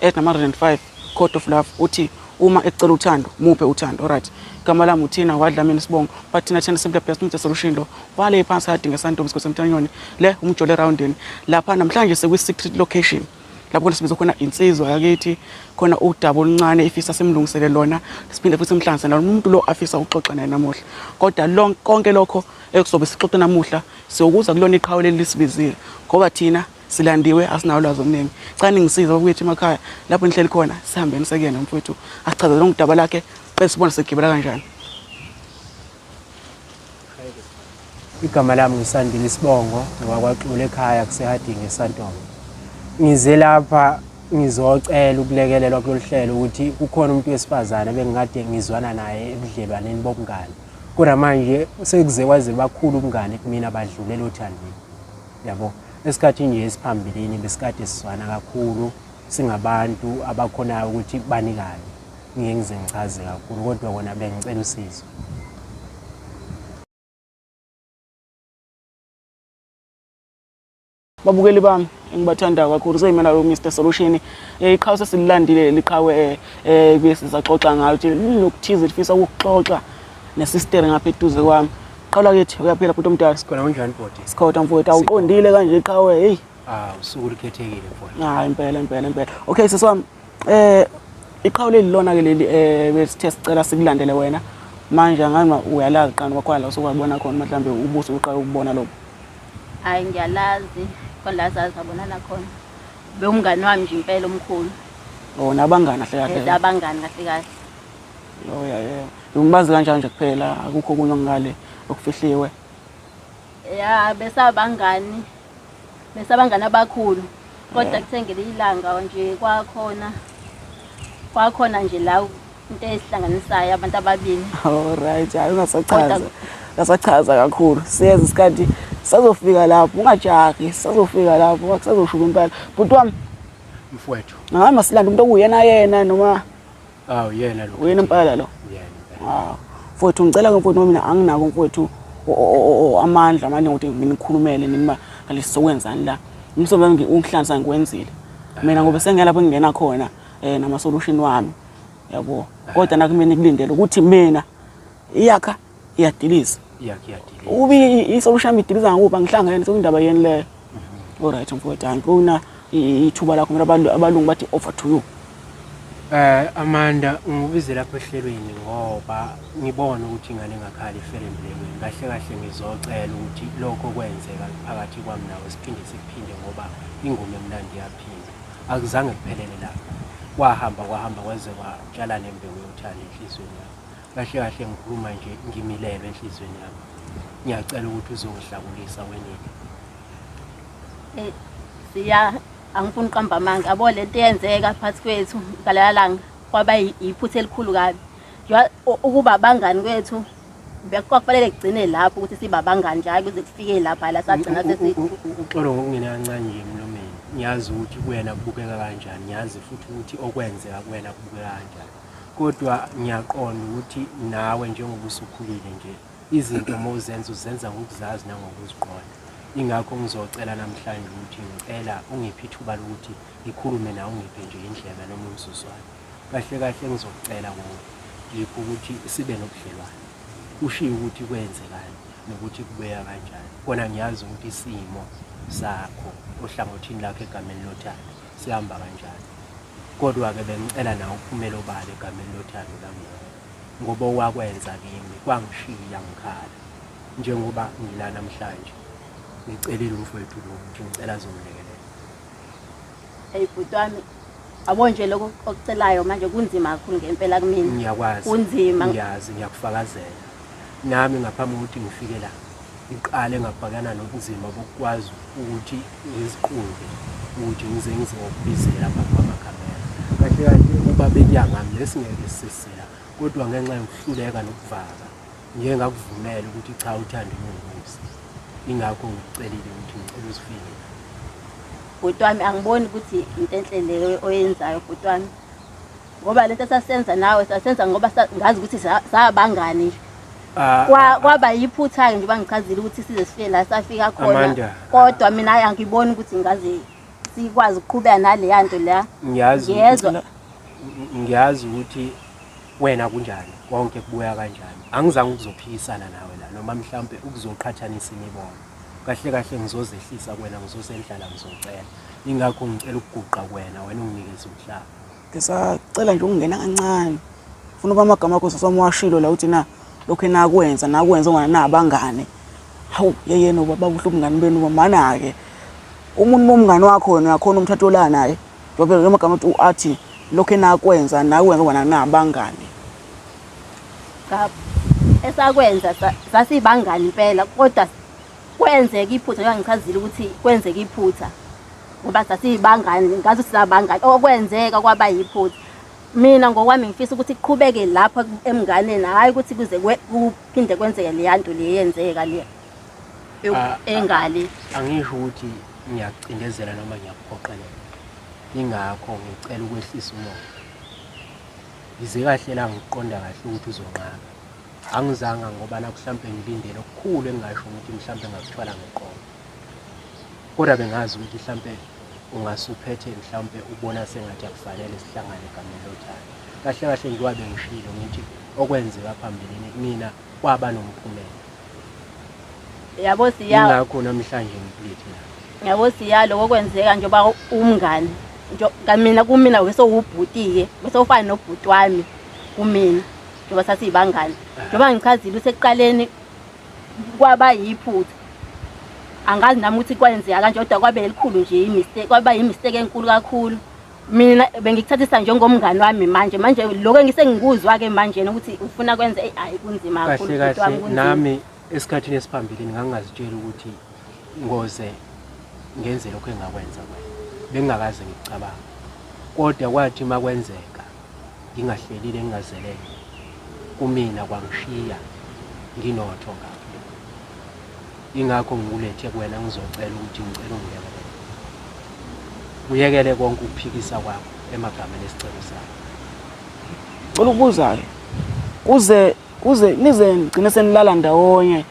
Ed number 105 Code of Love uthi uma ekucela uthando muphe uthando alright igama lami uthina wadla mina sibongo but thina thina simple best umthe solution lo wale phansi kade ngesantombi sikho semthanyoni le umjole roundini lapha namhlanje sekwi secret location lapho khona sibiza khona insizwa yakithi khona udaba oluncane ifisa simlungisele lona siphinde futhi simhlanganise nalo umuntu lo afisa ukuxoxa naye namuhla kodwa lonke konke lokho ekuzobe sixoxe namuhla siyokuza kulona iqhawe leli lisibizile ngoba thina silandiwe asinawo lwazi oluningi cani ngisize bakwethu emakhaya lapho nihleli khona sihambeni sekuyena mfowethu asichazele ngudaba lakhe qe sibona sigibela kanjani igama lami ngisandile isibongo ngwakwaxula ekhaya kusehadingi esantolo ngize lapha ngizocela ukulekelelwa kulolu hlelo ukuthi kukhona umuntu wesifazane bengikade ngizwana naye ebudlelwaneni bobungane kodwa manje sekuze kwaze bakhulu ubungane kumina badlulele othandweni yabo esikhathini nje esiphambilini besikade sizwana kakhulu singabantu abakhonayo ukuthi banikane ngeke ngize ngichaze kakhulu kodwa kona bengicela usizo babukeli bami engibathanda kakhulu seyimela lo Mr Solution eh, iqhawe sesililandile liqhawe eh, eh besizaxoxa ngayo ukuthi linokuthize lifisa ukuxoxa nesisteri ngapha eduze kwami qala kithi uyaphila bhuti omdala sikhona kunjani bhuti sikhona mfowethu awuqondile kanje qhawe hey ah usuku likhethekile mfowethu hayi ah, impela impela impela okay sisi wami eh iqhawe leli lona ke leli eh besithe sicela sikulandele wena manje ngani uyalazi qani kwakhona la usukwabona khona mhlawumbe ubuso uqala ukubona lokho hayi ngiyalazi khona la zazi abonana khona bewumngani wami nje impela omkhulu oh nabangani kahle kahle abangani kahle kahle Oh yeah yeah. Ngibazi kanjani nje kuphela akukho kunye ngale okufihliwe. Ya besabangani. Besabangani abakhulu. Kodwa kuthe ngelinye ilanga nje kwakhona kwakhona nje la into esihlanganisayo abantu ababili. All right, hayi ungasachaza. Kodwa- Ngasachaza kakhulu. Siyeza isikhathi sazofika lapho ungajahi sazofika lapho kusazoshuka impela. Bhuti wami mfowethu hhayi masilanda umuntu okuyena yena noma Awu yena lo. Uyena impela lo. Yena. Awu. Mfowethu ngicela ke mfowethu mina anginako mfowethu amandla amaningi ukuthi nginikhulumele nima ngalesi sokwenzani la. Umsebenzi wami ungihlanza ngikwenzile. Mina ngoba sengelapho ngingena khona eh nama solution wami. Yabo. Kodwa nakumina kulindele ukuthi mina iyakha iyadiliza ukuba isokushamba idiliza ngakuphi angihlangene sekuyindaba yeni leyo mhm. olright mfowethu angifuna ithuba lakho mina abantu abalungu bathi over to you Eh Amanda ngibize lapha ehlelweni ngoba ngibona ukuthi ingane engakhala ifele emlekweni kahle kahle ngizocela ukuthi lokho kwenzeka phakathi kwami nawe siphinde siphinde ngoba ingoma emnandi yaphinda akuzange kuphelele lapho kwahamba kwahamba kweze kwatshala nembewu yothanda enhlizweni yakho kahle kahle ngikhuluma nje ngimilelwe enhliziyweni yami ngiyacela ukuthi uzongihlakulisa wenini eh siya angifuni uqamba amanga yabo le nto eyenzeka phakathi kwethu ngalala langa kwaba yiphutha elikhulu kabi ukuba abangani kwethu kwakufanele kugcine lapho ukuthi siba abangani nje hayi kuze kufike lapha la sagcina sesi uxolo ngokungena kancane nje emlomeni ngiyazi ukuthi kuyena kubukeka kanjani ngiyazi futhi ukuthi okwenzeka kuyena kubukeka kanjani Kodwa ngiyaqonda ukuthi nawe njengoba usukhulile nje, izinto uma uzenza uzenza ngokuzazi nangokuziqonda. Ingakho ngizocela namhlanje ukuthi ngicela ungiphe ithuba lokuthi ngikhulume nawe ungiphe nje indlebe noma umzuzwana. Kahle kahle engizokucela kuwe yikho ukuthi sibe nobudlelwane. Ushiye ukuthi kwenzekani nokuthi kubeya kanjani. Kona ngiyazi ukuthi isimo sakho ohlangothini lakho egameni lothando. Sihamba kanjani? Kodwa-ke bengicela nawe uphumele obala egameni lothando lami nawe, ngoba owakwenza kimi kwangishiya ngikhala. Njengoba ngila namhlanje, ngicelile umfowethu lo ukuthi ngicela azongilekelela. Hey bhuti wami, abo nje lokho okucelayo manje kunzima kakhulu ngempela kumina. Ngiyakwazi. Kunzima. Ngiyazi, ngiyakufakazela. Nami ngaphambi kokuthi ngifike la, Ngiqale ngabhekana nobunzima bokukwazi ukuthi ngiziqonde ukuthi ngize ngize ngokubizela phambi kwamakamera. Kahle kahle ukuba bekuya ngami besingeke sisela kodwa ngenxa yokuhluleka nokuvaka ngike ngakuvumela ukuthi cha uthando lungubusi. Ingakho ngikucelile ukuthi ngicela uzifike. Bhuti wami angiboni ukuthi into enhle leyo oyenzayo bhuti wami. ngoba lento sasenza nawe sasenza ngoba sa- ngazi ukuthi sa- sabangani nje Ah, Kwa- kwaba yiphutha-ke nje bangichazile ukuthi size sifike la safika khona Amanda. kodwa mina ayi angiboni ukuthi ngaze sikwazi ukuqhubeka naleya nto la ngiyazi Ngiyezwa. ukuthi- ngiyazi ukuthi wena kunjani konke kubuya kanjani angizange ukuzophikisana nawe la noma mhlawumpe ukuzoqhathanisa imibono kahle kahle ngizozehlisa kwena ngizosendlala ngizocela ingakho ngicela ukuguqa kwena wena unginikeze umhlaba Ngisacela nje ukungena kancane. Funa uba amagama akho sisi wami washilo la uthi na lokhu enakwenza nakwenza ungana nabangane. Hawu yeyena ubaba kuhle ubungani benu bamana ke. Umuntu bomngani wakho wena uyakhona umthathola naye. Ngoba lo magama uthi uathi lokhu enakwenza nakwenza ungana nabangane. Cha esakwenza sasibangani impela kodwa kwenzeka iphutha njengoba ngichazile ukuthi kwenzeka iphutha ngoba sasiyibangani ngazi ukuthi sabangani okwenzeka kwaba yiphutha mina ngokwami ngifisa ukuthi kuqhubeke lapha emnganeni hhayi ukuthi kuze kuphinde kwenzeke leya nto le yenzeka le ah, engale ah, angisho ukuthi ngiyacindezela noma ngiyakuphoqelela ingakho ngicela ukwehlisa umoya ngize kahle la ngiqonda kahle ukuthi uzonqaba Angizanga ngoba nakuhlampe ngilindele okukhulu engingasho ukuthi mhlampe ngakuthwala ngeqolo kodwa bengazi ukuthi mhlampe ungasuphethe mhlawumpe ubona sengathi akufanele sihlangane egameni lothando kahle kahle njengoba bengishilo ngithi okwenzeka phambilini mina kwaba nomphumela yabo siya ngakho namhlanje ngiphethe yabo siya lokho kwenzeka njengoba umngane nje kamina kumina wesewubhutike wesewufana nobhuti wami kumina njengoba sasiyibangane njengoba ngichazile usekuqaleni kwaba yiphutha angazi nami ukuthi kwenzeka kanje kodwa kwabe elikhulu nje imistake kwaba yimistake enkulu kakhulu mina bengikuthathisa njengomngani wami manje manje lokho engisengikuzwa-ke manje ukuthi ufuna kwenza eyi hhayi kunzima kahle kahle nami esikhathini esiphambilini ngangingazitshela ukuthi ngoze ngenze lokho engakwenza kwena bengingakaze ngikucabanga kodwa kwathi uma kwenzeka ngingahlelile ngingazelele kumina kwangishiya nginotho kahle ingakho ngikulethe kuwena ngizocela ukuthi ngicela ungiyekele uyekele konke ukuphikisa kwakho emagameni esicelo sakho cela ukubuzayo kuze kuze nize ngcine senilala ndawonye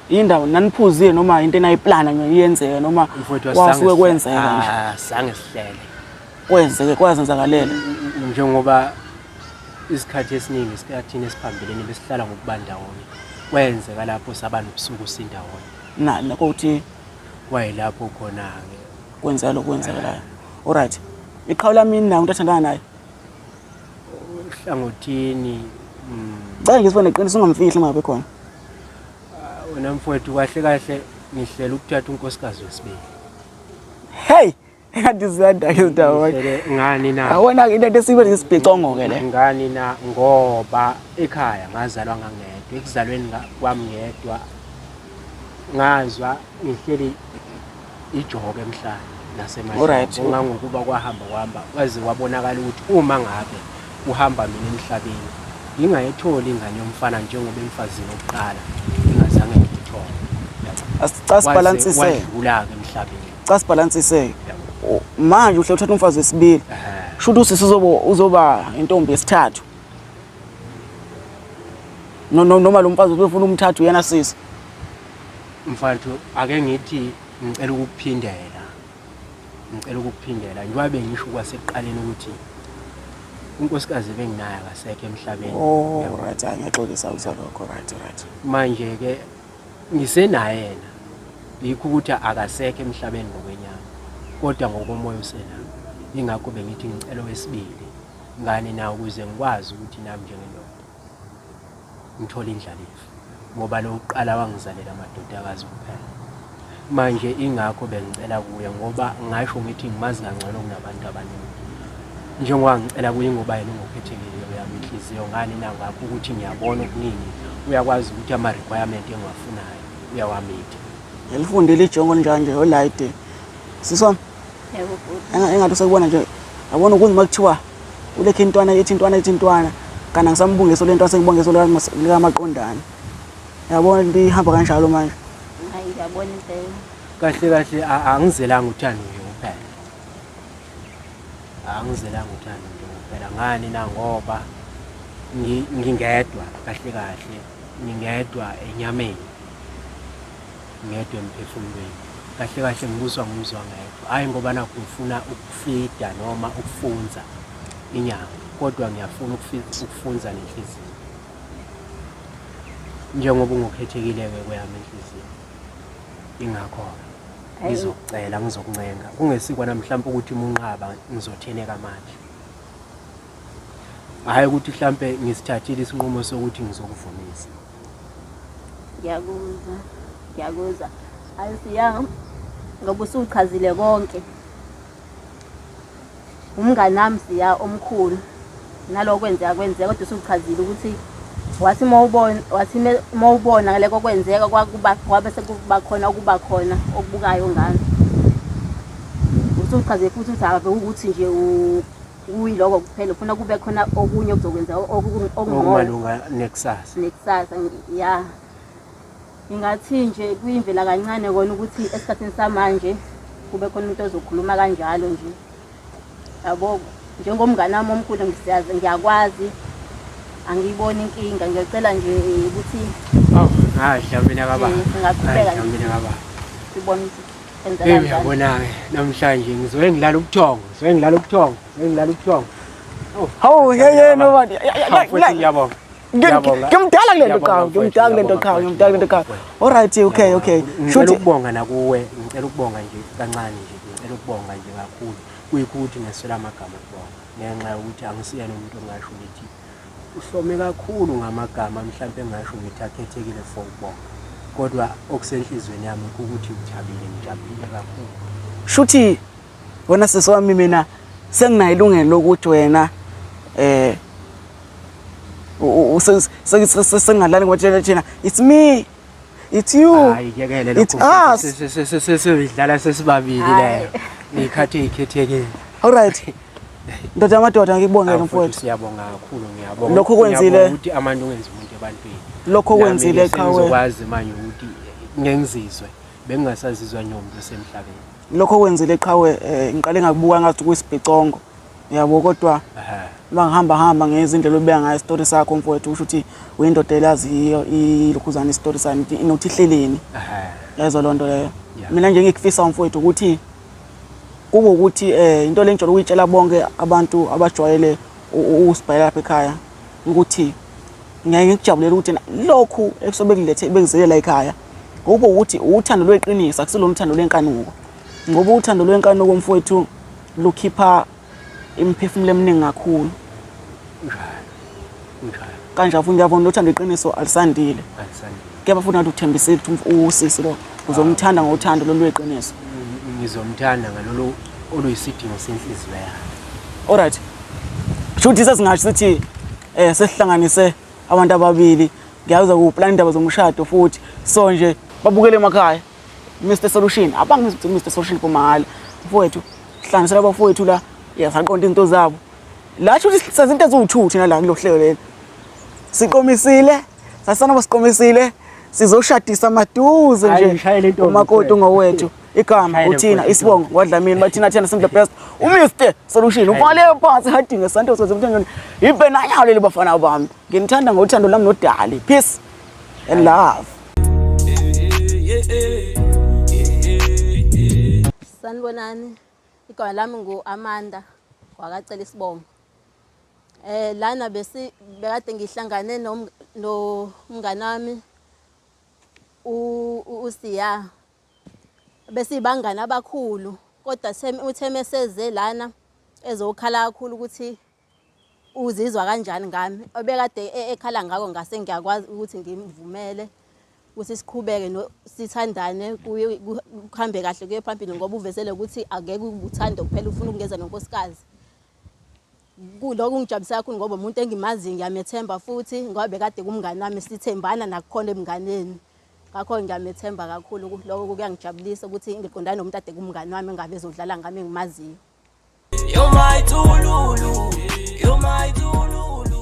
indawo naniphuzile noma into enayiplana niyenzeke noma wasuke kwenzeka nje ah, sange sihlele kwenzeke kwazenzakalela njengoba isikhathi esiningi sikathina esiphambilini besihlala ngokuba ndawonye kwenzeka lapho saba nobusuku sindawonye nani kokuthi kwayilapho khona-ke kwenzeka lokhu kwenzekelayo olright iqhawu lami nayo umuntu athandana naye uhlangothini mm. cela ngisibone qiniso ungamfihli uma ngabe khona ah, wena mfowethu kahle kahle ngihlela ukuthatha unkosikazi wesibili hey Kanti ziyanda ke ndawonye. Ngishele ngani na? Awona ke into esibe lesibhicongo ke le. Ngani na ngoba ekhaya ngazalwa ngangedwa, ekuzalweni nga- kwami ngedwa ngazwa ngihleli ijoke emhlane Alright. nasemhlanje ngangokuba kwahamba kwahamba kwaze kwabonakala ukuthi uma ngabe kuhamba mina emhlabeni ngingayitholi ingane yomfana njengoba emfazini wokuqala ngingazange ngiyithole Asicasibalansise. wadlula-ke emhlabeni Cha sibhalansise. Manje uhle uthatha umfazi wesibili. Shuthi usisi uzoba uzoba intombi yesithathu. No no noma lo mfazi ubefuna umthathu yena sisi. Mfowethu ake ngithi ngicela ukukuphindela. Ngicela ukukuphindela. Njengoba bengisho kwasekuqaleni ukuthi unkosikazi benginayo akasekho emhlabeni. Oh right, ngiyaxolisa uzalokho right right. Manje ke Ngisenayena, yikho ukuthi akasekho emhlabeni ngokwenyama, kodwa ngokomoya usenami. Yingakho bengithi ngicela owesibili, ngani na, ukuze ngikwazi ukuthi nami njengendoda ngithole indlalifa, ngoba lo wokuqala wangizalela amadodakazi kuphela. Manje ingakho bengicela kuye ngoba ngasho ngithi ngimazi kangcono kunabantu abaningi. Njengoba ngicela kuye ingoba yena ungokhethekile uyami inhliziyo ngani na ngakho ukuthi ngiyabona okuningi uyakwazi ukuthi ama requirement engiwafunayo uyawamitha. Ngilifundile ijongo njanje olayide. Siswami. Yebo bhuti. Engathi usekubona nje yabona ukunzima kuthiwa ulekhe intwana ethi intwana ethi intwana kana ngisamubungeso lento asengibongeso lika maqondana. Yabona into ihamba kanjalo manje. Hayi yabona impela. Kahle kahle angizelanga uthando nje kuphela. Angizelanga uthando nje kuphela ngani na ngoba ngingedwa kahle kahle ngingedwa enyameni. Ngedwa emphefumulweni. Kahle kahle ngibuswa ngumzwa ngedwa. Hayi ngoba nakho ngifuna ukufida noma ukufunza inyama kodwa ngiyafuna ukufunza nenhliziyo. njengoba ungokhethekile-ke kweyami inhliziyo ingakho-ke ngizokucela ngizokuncenga kungesikwana mhlawumpe ukuthi munqaba ngizotheleka manje hhayi ukuthi mhlawumpe ngisithathile isinqumo sokuthi ngizokuvumisa ngiyakuzwa ngiyakuzwa ayisiyami ngoba usuchazile konke Umngani wami siya omkhulu naloko kwenzeka kwenzeka kodwa usuchazile ukuthi wathi uma ubona wathi uma ubona ngaleko kwenzeka kwakuba kwabe sekuba khona okuba khona okubukayo ngami usuchazile futhi ukuthi akabe ukuthi nje kuyiloko kuphela ufuna kube khona okunye okuzokwenza okungokumalunga nekusasa nekusasa ya Ngingathi nje kuyimvela kancane kona ukuthi esikhathini samanje kube khona umuntu ozokhuluma kanjalo nje yabo njengomngane wami omkhulu ngisiyazi ngiyakwazi angiyiboni inkinga ngiyocela nje eh, ukuthi awu ngadla mina kababa Eh, singaqhubeka ngadla nje. mina kababa sibone ukuthi enza Hey kanjani uyabona-ke namhlanje ngizoke ngilala ubuthongo ngizoke ngilala ubuthongo ngizoke ngilala ubuthongo Hawu yeyeni obani. Hawu, futhi ngiyabonga Ngiyabonga. Ngimdala kule nto Ngiyabonga, qhawe, mfowethu, ngimdala kule nto ngiyabonga, qhawe, mfowethu, ngimdala kule nto qhawe. ngiyabonga, Alright, okay, okay. ngicela Shuthi ukubonga nakuwe ngicela ukubonga nje kancane nje ngicela ukubonga nje kakhulu kuyikuthi ngeswela amagama okubonga ngenxa yokuthi angisiyena umuntu ongasho ngithi uhlome kakhulu ngamagama mhlawumpe engasho ngithi akhethekile for ukubonga kodwa okusenhliziyweni yami ukuthi ngithabile ngijabulile kakhulu shuthi Wena sisi wami mina senginayo ilungelo lokuthi wena eh sengingalali ngoba thina thina it's me it's you hayi yekele lokho sesiyidlala sesibabili leyo ngikhathi ikhethekile all right ndoda amadoda ngikubonge lo mfowethu siyabonga kakhulu ngiyabonga lokho kwenzile ukuthi amandla ungenza umuntu ebantwini lokho kwenzile qhawe ngizokwazi manje ukuthi ngengizizwe bengingasazizwa ngiwumuntu osemhlabeni lokho kwenzile qhawe eh, ngiqale ngakubuka ngathi kuyisibhicongo yabo kodwa uma ngihamba hamba ngezindlela obeka ngayo isitori sakho mfowethu usho ukuthi uyindoda elaziyo ilukhuzana isitori sami nokuthi ihleleni yezwa loo nto leyo mina nje ngikufisa umfowethu ukuthi kube ukuthi um eh, into le ngijwayele ukuyitshela bonke abantu abajwayele usibhayela lapha ekhaya ukuthi Ngiyaye ngikujabulele ukuthi lokhu ekusobe kulethe bekuzelela ekhaya kube ukuthi uthando lweqiniso akusilona uthando lwenkanuko ngoba uthando lwenkanuko mfowethu lukhipha imiphefumulo eminingi kakhulu kanje futhi ngiyabona ukuthi andiqiniso alisandile kuyaba futhi ngathi uthembisile ukuthi usisi lo uzomthanda ngothando lolweqiniso ngizomthanda ngalolu oluyisidingo senhliziyo yakhe alright shuthi sesingasho sithi eh sesihlanganise abantu ababili ngiyazi ukuplan indaba zomshado futhi so nje babukele emakhaya Mr Solution abangizi ukuthi Mr Solution pomahhala mfowethu hlanganisela abafowethu la yasaqonda izinto zabo la shuthi senza into eziwu2 thina la kulohlelo leli siqomisile sasana basiqomisile sizoshadisa maduze nje umakoti ngowethu igama uthina isibongo ngodlamini bathina thina simple best uMr solution uvale phansi hadinge santo soze mthandweni yibe nanyawo leli bafana bami nginithanda ngothando lami nodali peace and love sanibonani igama lami ngu Amanda kwakacela isibongo eh lana besi bekade ngihlangane nomngane wami usiya besiyibangani abakhulu kodwa uthe meseze lana ezokhala kakhulu ukuthi uzizwa kanjani ngami obekade e, ekhala ngako ngase ngiyakwazi ukuthi ngimvumele ukuthi siqhubeke sithandane kuhambe kahle kuye phambili ngoba uvezele ukuthi akeke ubuthanda kuphela ufuna ukungeza nonkosikazi Kuloko kungijabulisa kakhulu ngoba umuntu engimaziyo ngiyamethemba futhi ngoba bekade kumngane wami sithembana nakukhona ebunganeni. Ngakho ngiyamethemba kakhulu lokho kuyangijabulisa ukuthi ngiqondane nomuntu ade kumngane wami engabe ezodlala ngami engimaziyo. You're my tululu, you're my tululu.